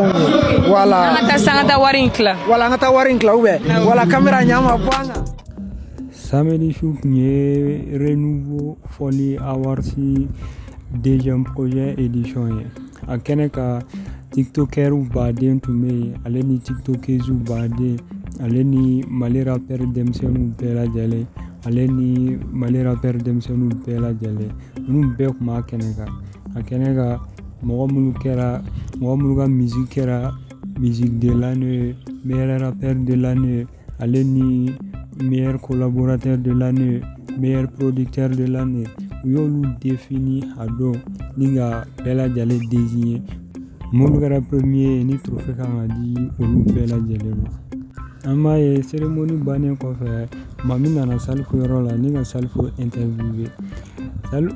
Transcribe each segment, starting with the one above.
wala an ka taa san ka taa wari in tila wala an ka taa wari in tila ubɛ wala kamera ɲa ma bɔ an kan samedi su tun ye renouveau fɔli awards deuxième projet édition ye a kɛnɛ kan tiktokɛriw baden tun bɛ yen ale ni tiktokeziw baden ale ni mali rapɛr denmisɛnninw bɛɛ lajɛlen ale ni mali rapɛr denmisɛnninw bɛɛ lajɛlen ninnu bɛɛ tun b'a kɛnɛ kan a kɛnɛ kan mɔgɔ minnu kɛra mɔgɔ minnu ka musique kɛra musique de l'année meilleur rappeur de l'année ale ni meilleur collaborateur de l'année meilleur producteur de l'année u y'olu défini a don ni ka bɛɛ lajɛlen désigné minnu kɛra premier ye ni trophée kan ka di olu bɛɛ lajɛlen ma An b'a ye seremonin bannen kɔfɛ mami nana salifu yɔrɔ la ni ka salifu interviewé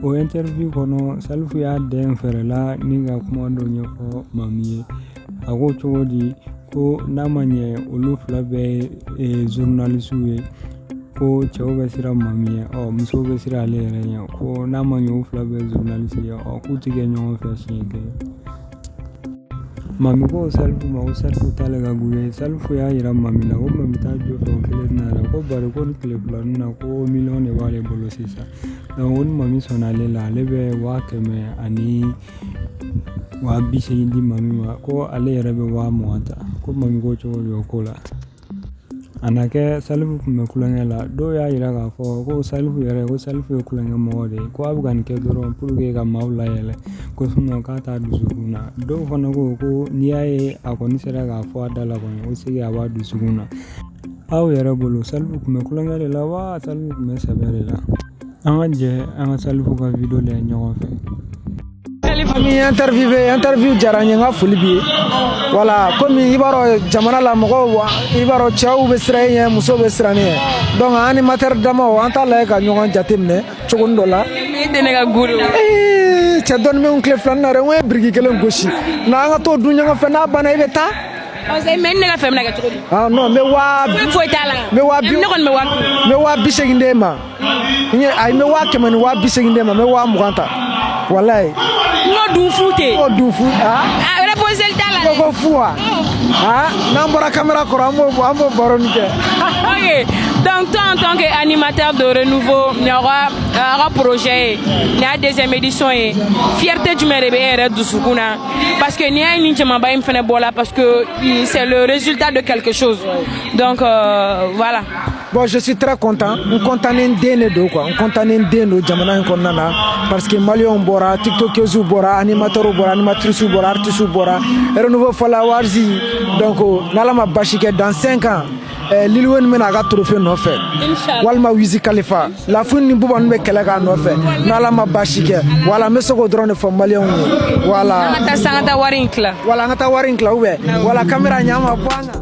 o interview kɔnɔ salifu y'a dɛn fɛɛrɛ la ni ka kuma dɔ ɲɛfɔ mami ye a ko cogo di ko n'a ma ɲɛ olu fila bɛɛ ye journalistes ye ko cɛw bɛ siran mami ɲɛ ɔ musow bɛ siran ale yɛrɛ ɲɛ ko n'a ma ɲɛ u fila bɛɛ ye journalistes ye ɔ k'u tɛ kɛ ɲɔgɔn fɛ siɲɛ kelen Mami ko salifu ma ko salifu t'ale ka gu ye salifu y'a jira mami la ko mami t'a jɔ sa o kelen na yɛrɛ ko bari ko ni tile fila na ko miliyɔn de b'ale bolo sisan donc ko ni mami sɔnna ale la ale bɛ waa kɛmɛ ani waa bi segin di mami ma ko ale yɛrɛ bɛ waa mugan ta ko mami ko cogo di o ko la A na kɛ salifu kun bɛ kulonkɛ la dɔw y'a yira k'a fɔ ko salifu yɛrɛ ko salifu ye kulonkɛ mɔgɔ de ye ko a bɛ ka nin kɛ dɔrɔn pour que ka maaw layɛlɛ ko sinon k'a t'a dusukun na dɔw fana ko ko n'i y'a ye a kɔni sera k'a fɔ a da la kɔni ko c'est que a b'a dusukun na aw yɛrɛ bolo salifu kun bɛ kulonkɛ de la wa salifu kun bɛ sɛbɛ de la an ka jɛ an ka salifu ka vidéo lajɛ ɲɔgɔn fɛ Mami interview bɛ interview diyara n ye n ka foli b'i ye voilà komi i b'a dɔn jamana la mɔgɔw i b'a dɔn cɛw bɛ siran e ɲɛ musow bɛ siran ne ɲɛ donc an animateur damaw an t'a lajɛ ka ɲɔgɔn jateminɛ cogonin dɔ la. I tɛ ne ka gu la. Ee cɛ dɔɔni bɛ n tile filanin na dɛ n ko ye biriki kelen gosi na an ka t'o dun ɲɔgɔn fɛ n'a banna i bɛ taa. mais ne ka fɛn bɛna kɛ cogo di? Ah non n bɛ waa. Foyi foyi t'a la. N bɛ waa bi. Ne kɔni bɛ waa. N bɛ waa bi seegin d'e ma. n ye ayi n bɛ waa kɛmɛ ni waa bi seegin d'e ma n bɛ waa mugan ta walayi. n k'o dun fu tɛ. n k'o dun fu aa. a réponse t'a la dɛ. ko fu wa. aa n'an bɔra kamera kɔrɔ an b'o an b'o baro nin kɛ. ok donc toi en tant que animateur de renouveau nin y'aw ka aw ka projet ye nin y'a deuxième édition ye fierté jumɛn de bɛ e yɛrɛ dusukun na parce que n'i y'a ye nin jamaba in fana bɔla parce que c'est le résultat de quelque chose donc euh, voilà. Bon je suis très content n kɔntannen den de don quoi n kɔntannen den don jamana in kɔnɔna na parce que maliyɛnw bɔra tiktokeuses bɔra animateurs bɔra animatrices bɔra artistes bɔra renouveau Folie Awards donc n'Ala ma basi kɛ dans 5 ans eh, Lil Wayne bɛ na a ka trophée nɔfɛ walima Wiz Khalifa La Fouine ni Booba ninnu bɛ kɛlɛ k'a nɔfɛ n'Ala ma basi kɛ voilà n bɛ se k'o dɔrɔn de fɔ maliyɛnw ye voilà an ka taa wari in tila voilà an ka taa wari in tila ou bien voilà kamera ɲɛ ma bɔ an kan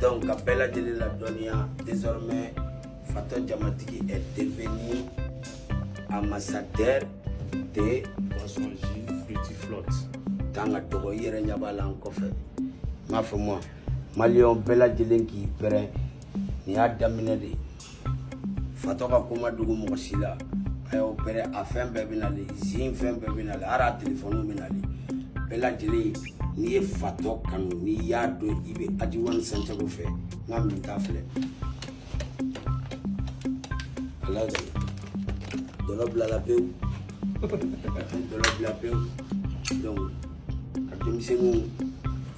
donc ka bɛɛ lajɛlen ladɔnniya désormais fatɔ jamatigi est devenu ambassadeur de boisson jus fruity flotte kan ka dɔgɔ i yɛrɛ ɲɛ b'a la n kɔfɛ n b'a fɔ ma maliyɛn bɛɛ lajɛlen k'i pɛrɛn nin y'a daminɛ de ye fatɔ ka ko ma dogo mɔgɔ si la a y'o pɛrɛn a fɛn bɛɛ bɛ nalen zin fɛn bɛɛ bɛ nalen hali a telefɔni bɛ nalen bɛɛ lajɛlen n'i ye fatɔ kanu n'i y'a dɔn i bɛ Adji One Centhiago fɛ n ka minta filɛ ala de dɔlɔ bilala pewu dɔlɔ bila pewu donc ka denmisɛnninw